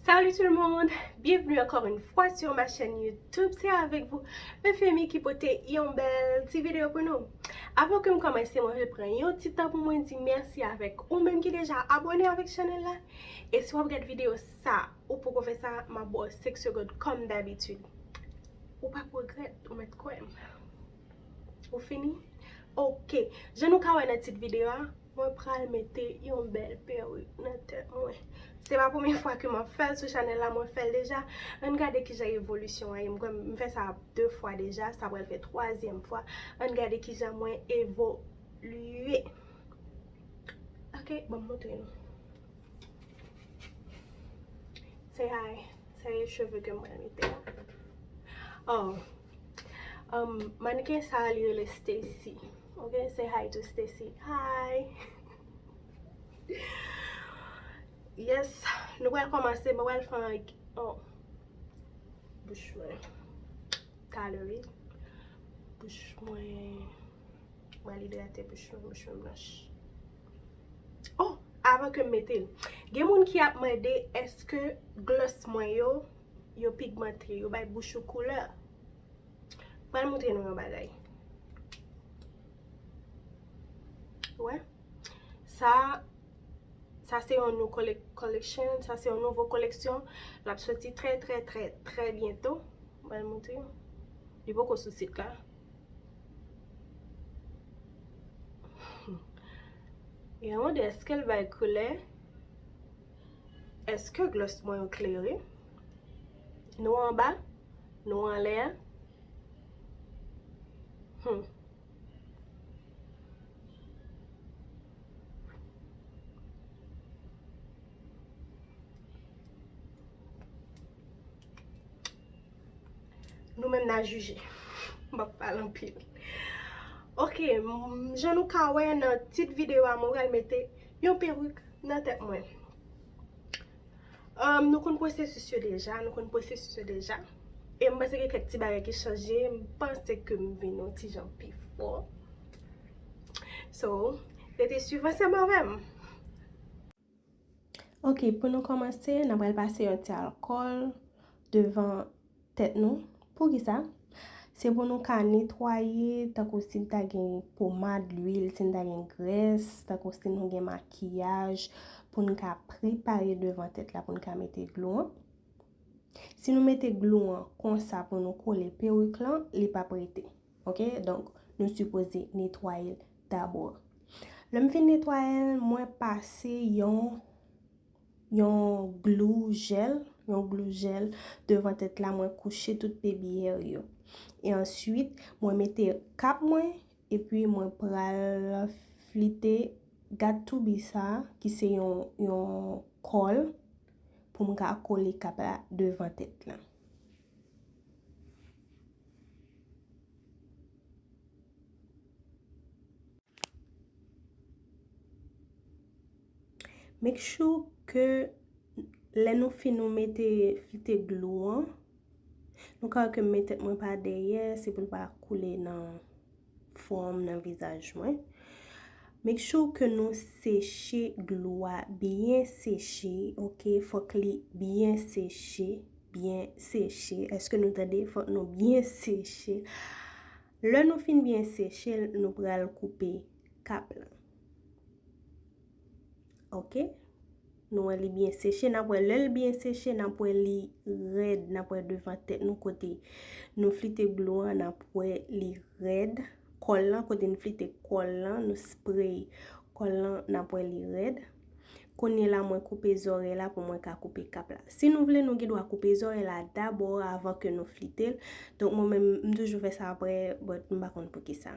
Salut tout le monde, bienvenue encore une fois sur ma chaîne YouTube, c'est avec vous Eufemie qui pote yon bel ti vidéo pour nous. Avant que m commence, mwen vle pran yon ti tan pou mwen di merci avec ou menm ki deja abonné avec channel la. Et si wap gad vidéo sa, ou poko fè sa, ma bo 5 secondes comme d'habitude. Ou pap regret, ou met kwè m. Ou fini? Ok, jan nou ka wè nan tit vidéo a, Mwen pral mete yon bèl perik nan tèt mwen. Se pa premye fwa ke map fèl sou chanèl la, mwen fèl deja. Ann gade kijan evolisyon an ye. M kwè m fè sa 2 fwa deja, sa pral fè twazyèm fwa. Ann gade kijan mwen evolye. Ok, banm montre nou. Say hi. Sa e cheve ke m pral mete la. Aww. Mannequin sa li rele Stacy ok say hi to Stacy hi yes nou pral komanse mwen pral fè yon oh bouch mwen tale wi bouch mwen mwen pral idrate bouch mwen bouch mwen blanch oh avan kem metel gen moun ki ap mande eske gloss mwen yo Yo pigmante, yo bay bouch ou koulè. M pral montre nou yon bagay. Ou wè? Sa, sa se yon nou collection, sa se yon nouvo koleksyon. L ap soti trè trè trè trè byento. M pral montre nou. Li poko sou sit la. Gen yon de, eske l bay koulè? Eske glòs mwen yo klere? Nou anba? Nou anlè a? Hum. Nou menm na jije. M ap pale anpil. Ok, jan nou ka wè nan tit videyo a mwen pral mete Yon peruk nan tèt mwen. Humm nou konn pwosesis yo deja, nou konn pwosesis yo deja. E m panse gen kèk ti bagay ki chanje, m panse ke m vin yon ti jan pi fò. So, rete swiv ansanm avè m. Ok, pou nou kòmanse, n a pral pase yon ti alkòl devan. Tèt nou. Poukisa? Se pou nou ka netwaye, tankou si n ta gen pomad, lwil, si n ta gen grès, tankou si nou gen makiyaj, pou n ka prepare devan tèt la pou n ka mete glou an. Si nou mete glou an konsa pou nou kole perik lan, li p ap rete. Ok, donk nou sipoze netwaye l dabò. Lè m fin netwaye l, mwen pase yon. yon glou jèl, yon glou jèl devan tèt la mwen kouche tout pebiyèr yo. E answit mwen mete kap mwen epi mwen pral flite gad toubi sa ki se yon kòl pou m ka kole kap la devan tèt la. Make sure ke lè nou fin nou mete flite glou an, nou ka wè ke m met tèt mwen pa dèyè, se pou l pa koule nan fwon, nan vizaj mwen. Make sure ke nou seche glou a, byen seche, ok, fòk li byen seche, byen seche, eske nou tande, fòk nou byen seche. Lè nou fin byen seche l, nou pral koupe kap lan. Ok. Nou wè li byen seche. N ap wè lè l byen seche, n ap wè li rèd. N ap wè devan tèt nou kote nou flite glou an, n ap wè li rèd. Kòl lan, kote nou flite kòl lan, nou sprey kòl lan, n ap wè li rèd. Kounye la mwen koupe zòrèy la pou mwen ka koupe kap la. Si nou vle nou gen dwa koupe zòrèy la dabò avan ke nou flite l. Donk mwen menm m toujou fè sa aprè, bòt m pa konn poukisa.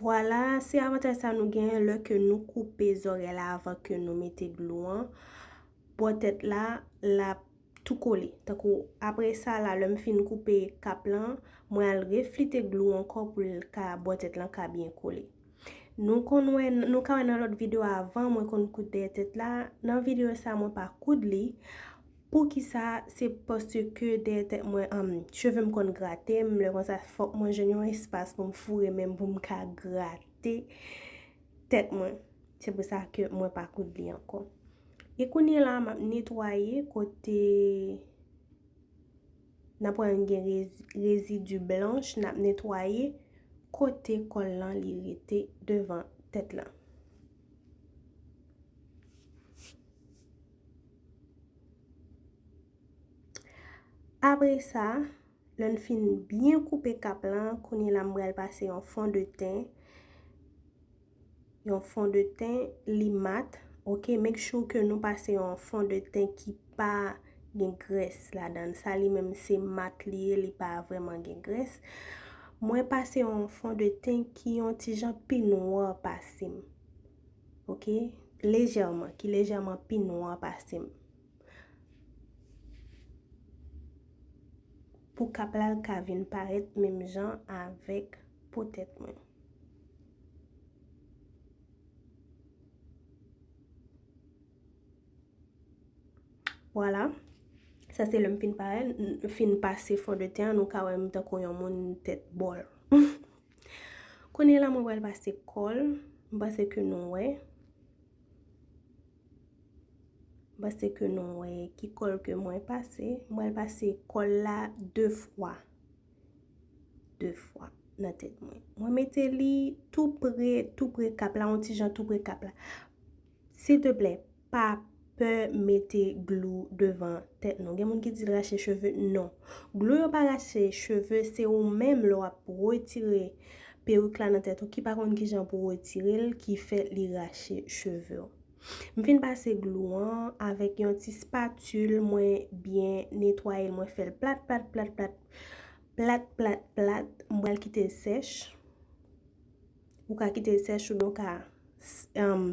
Vwala, se avantaj sa nou genyen lè ke nou koupe zòrèy la avan ke nou mete glou an. Bò tèt la, la. tou kole. Tankou apre sa la lè m fin koupe kap lan, mwen al reflite glou ankò pou l ka bò tèt lan ka byen kole. Nou konn wè, nou ka wè nan lòt video avan mwen konn koud dèyè tèt la, nan video sa mwen pa koud li, poukisa se paske dèyè tèt mwen cheve m konn grate m, lè konsa fòk mwen jwenn yon espas pou m foure men m pou m ka grate. Tèt mwen. Se pou sa ke mwen pa koud li ankò. E kounye la m ap netwaye kote n ap wè m gen rezidu blanch n ap netwaye kote kòl lan li rete devan tèt lan. Apre sa. Lè n fin byen koupe kap lan, kounye la m bral pase yon fon de ten. Yon fon de ten li mat. Ok, make sure ke nou pase yon fon de ten ki pa gen grès ladan. Sa li menm se mat li ye, li pa vreman gen grès. Mwen pase yon fon de ten ki yon ti jan pi nwa pase m. Ok, lejèman, ki lejèman pi nwa pase m. Pou kap la l ka vin parèt menm jan avèk po tèt mwen. Vwala. Sa se lè m fin parèt, m fin pase fon de ten an, nou ka wè m tankou yon moun tèt bòl. Kounye la mwen pral pase kòl, m panse ke nou wè. M'pase ke nou wè ki kòl ke mwen pase. Mwen pase kòl la 2 fwa. 2 fwa nan tèt mwen. Mwen mete li tou pre, tou pre kap la, yon ti jan tou pre kap la. Sil te plè, pa pè mete glou devan tèt nou. Gen moun ki di rache cheve, non. Glou yo pa rache cheve, se ou menm lè wap retire Peruk la nan tèt ou ki pa konn kijan pou retirel ki fè li rache chevew. M fin pase glou an avèk yon ti spatul mwen byen netwayel mwen fèl plat plat plat plat plat plat plat m pral kitel sèch ou ka kitel sèch oubyen ou ka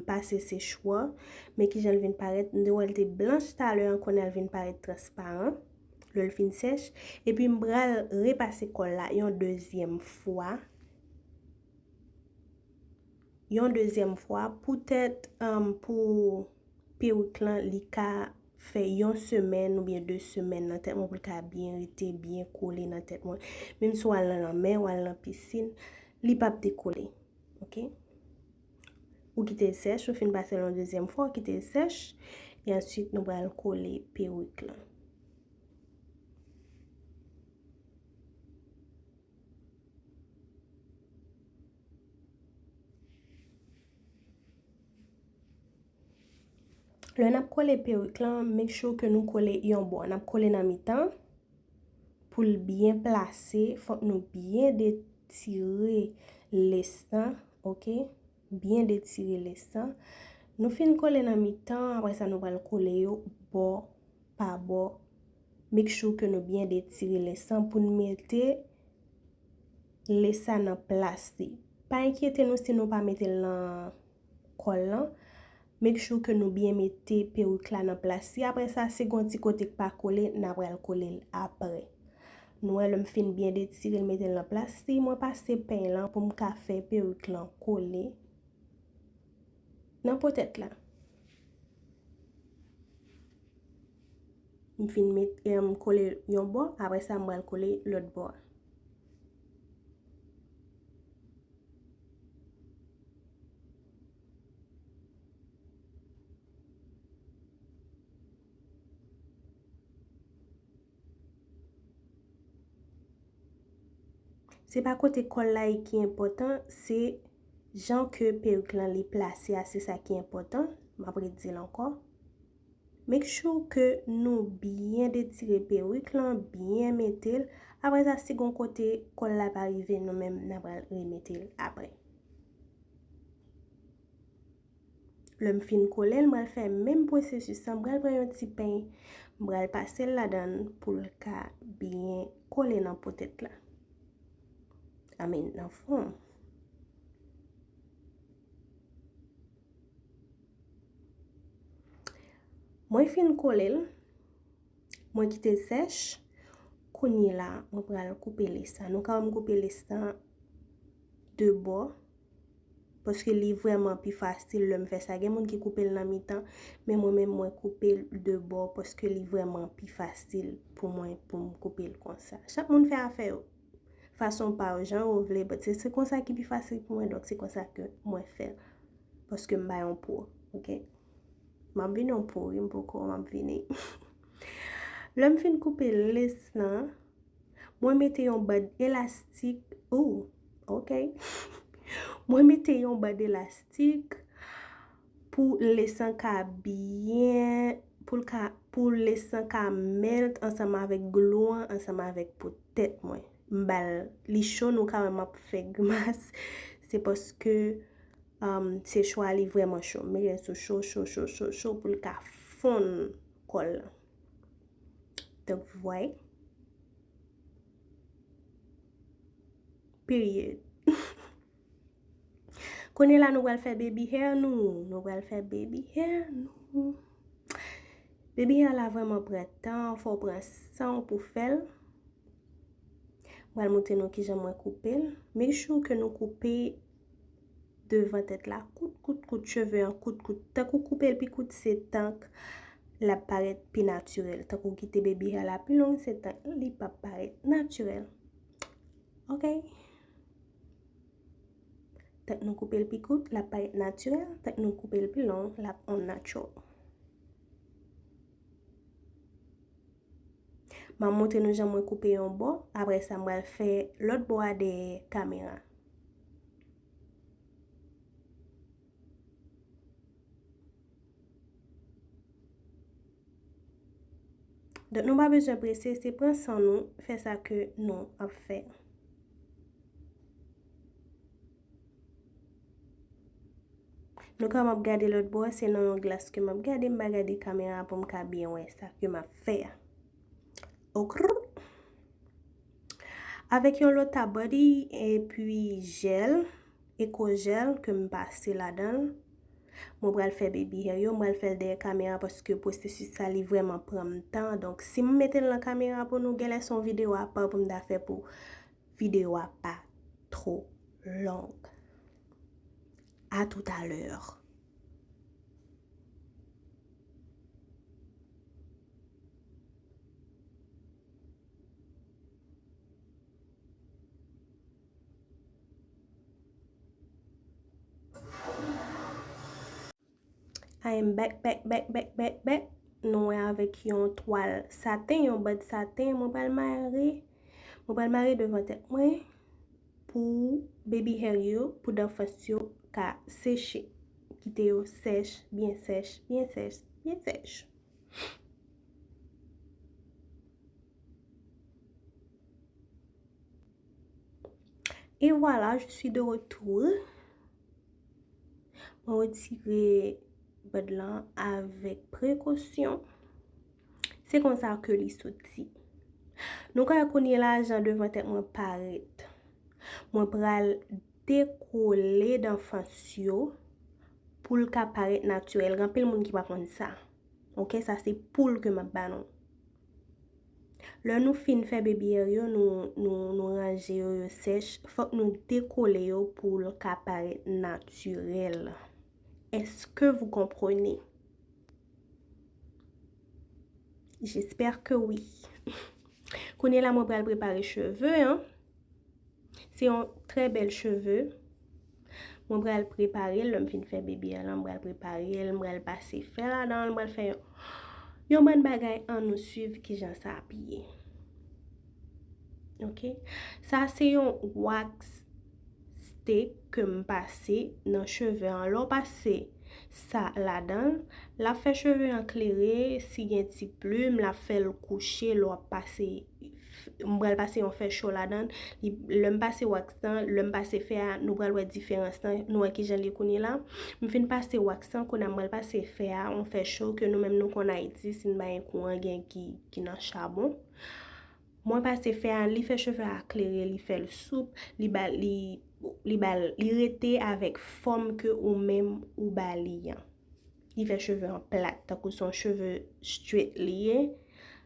pase sechwa men kijan l vin parèt m te wèl te blanch talè an kounye al vin parèt transparan. lè l fin sèch. Epi m pral repase kòl la yon dezyèm fwa. Yon dezyèm fwa poutèt pou perik lan li ka fè yon semèn oubyen 2 semèn nan tèt mwen pou l ka byen rete, byen kole nan tèt mwen. Menm si w al nan lanmè, w al nan pisin, li pap dekole. Ok? Ou kite l sèch, ou fin pase l yon dezyèm fwa, ou kite l sèch. E answit nou pral kole perik lan. Lè n ap kole perik lan, make sure ke nou kole yon bò. N ap kole nan mitan. Pou l byen plase, fòk nou byen detire lès lan ok byen detire le san nou fin kole nan mitan apre sa nou pral kole yo bò pa bò make sure ke nou byen detire le san pou nou mete le san nan plas li pa enkyete nou si nou pa mete l nan kòl lan Make sure ke nou byen mete peruk la nan plas li apre sa si gon ti kote k pa kole na pral kole l apre. Nou wè lè m fin byen detire l mete l nan plas li mwen pase peny lan pou m ka fè peruk lan kole nan po tèt la. M fin met em kole l yon bò apre sa m pral kole lòt bò a. Se pa kote kòl la ye ki enpòtan, se jan ke perik lan li plase a se sa ki enpòtan, m ap ret di l ankò. Make sure ke nou byen detire perik lan, byen mete l, apre sa si gon kote kòl la pa rive nou menm na pral remete l apre. Lè m fin kole l m pral fè menm pwosesis lan, m pral pran yon ti pen, m pral pase l ladan l pou l ka byen kole nan po tèt la. I mean nan fon. Mwen fin kole l. Mwen kite l sèch. Kounye la, mwen pral koupe les la. Nou ka wè m koupe les la de bò. Paske li vreman pi fasil lè m fè sa. Gen moun ki koupe l nan mitan. Men mwen men mwen koupe l de bò. Paske li vreman pi fasil pou mwen pou m koupe l konsa. Chak moun fè afè yo. fason pa w, jan ou vle, but se konsa ki pi fasil pou mwen, donk se konsa ke mwen fè l. Paske m pa yon pro, ok. M ap vin yon pro wi, m poko, m ap vini. Lè m fin koupe les lan, mwen mete yon bad elastik, ooh, ok. Mwen mete yon bad elastik. Pou lesan ka byen, pou l ka, pou lesan ka melt ansanm avèk glou an, ansanm avèk po tèt mwen. M ba l, li cho nou ka wè m ap fè grimas, se paske se chwa li vrèman cho. M mete l sou cho, cho, cho, cho, cho pou l ka fonn kòl lan. Donk vou vwayè. Period. Kounye la nou pral fè baby hair nou. Nou pral fè baby hair nou. Baby hair la vreman pran tan. Fò pran san ou pou fèl. Pral moute nou ki jan mwen koupe. Make sure ke nou koupe devan tèt la. Kout kout kout cheve an kout kout. Tank ou koupe pi kout se tank la paret pi naturel. Tank ou kite baby hair la pi long se tank li pa paret naturel. Ok. Tank nou koupe l pi kout, l ap parèt natirèl, tank nou koupe l pi long, l ap unnatural. M ap montre nou jan mwen koupe yon bò, apre sa m pral fè lòt bò a dèyè kamera. Donk nou pa bezwen prese, se pran san nou, fè sa ke nou ap fè. Nou ka map gade lòt bò, se nan yon glas ke map gade, m pa gade kamera pou m ka byen wè sa ke map fè a. Okrr. Avèk yon lòt ta body epi jèl, ekojèl ke m pase ladan l. Mwen pral fè baby hair yo, m pral fè l dèyè kamera paske pwosesis sa li vrèman pran m tan. Donk si m mete l nan kamera pou nou genlè se yon videyo apa pou m ta fè pou videyo a pa two long. A tout a lè. I am back, back, back, back, back, back. Nou wè avèk yon twal saten, yon bad saten. Mwen pral mare, mwen pral mare devan tèt mwen pou baby hair yo, pou dan fas yo ka seche. Kite yo sèch, byen sèch, byen sèch, byen sèch. E wala, je swi de retou. Mwen wetire bèd lan avèk prekosyon. Se kon sa ke li soti. Nou ka akonye la jan devan tèt mwen paret. Mwen pral te kole dan fans yo pou l ka parèt natirèl. Gen anpil moun ki pa konn sa. Ok, sa se poul ke m ap ba nou. Lè nou fin fè bebièr yo, nou ranje yo, yo sèch, fòk nou dekole yo pou l ka parèt natirèl. Eske vou konprone? Jespèr ke wi. Kounye la mwen pral prepare cheve an. Se yon trè bèl cheve. Mwen pral prepare l lè m fin fè bebe a lan. Mwen pral prepare l, mwen pral pase fè la dan, mwen pral fè yon. Yon bann bagay an nou suiv ki jan sa ap ye. Ok. Sa se yon wax stick ke m pase nan cheve an. Lè w pase sa la dan, l ap fè cheve an klere. Si gen ti plim, l ap fè l kouche lè w ap pase. m pral pase yon fè cho ladan l, lè m pase wax lan, lè m pase fè a, nou pral wè diferans lan, nou wè kijan l ye kounye la, m fin pase wax lan, kounye a m pral pase fè a, yon fè cho ke nou menm nou konn Ayiti, si n pa gen kouran gen ki nan chabon, mwen pase fè a, li fè cheve a klere, li fè l soup, li ba li, li ba l, li rete avèk fòm ke ou menm ou ba li an, li fè cheve an plat, tankou son cheve straight li ye.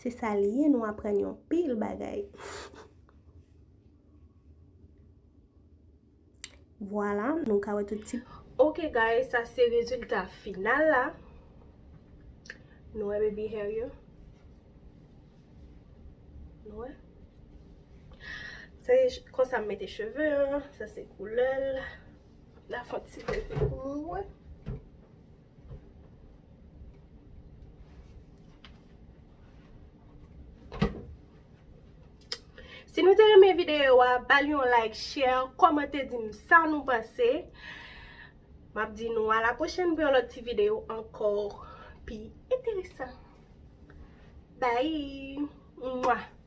Se sa li ye nou aprann yon pil bagay. Vwala nou ka wè tout ti. Ok guys sa se rezilta final la. Nou wè baby hair yo. Nou wè. Se konsa m mete cheve an. Sa se koulè l. La fon ti vèl pou nou wè. Si nou te renmen videyo a, ba li yon like, share, komante di m sa nou panse. M ap di nou a la pwochen pou yon lòt ti videyo ankò pi enteresan. Bye!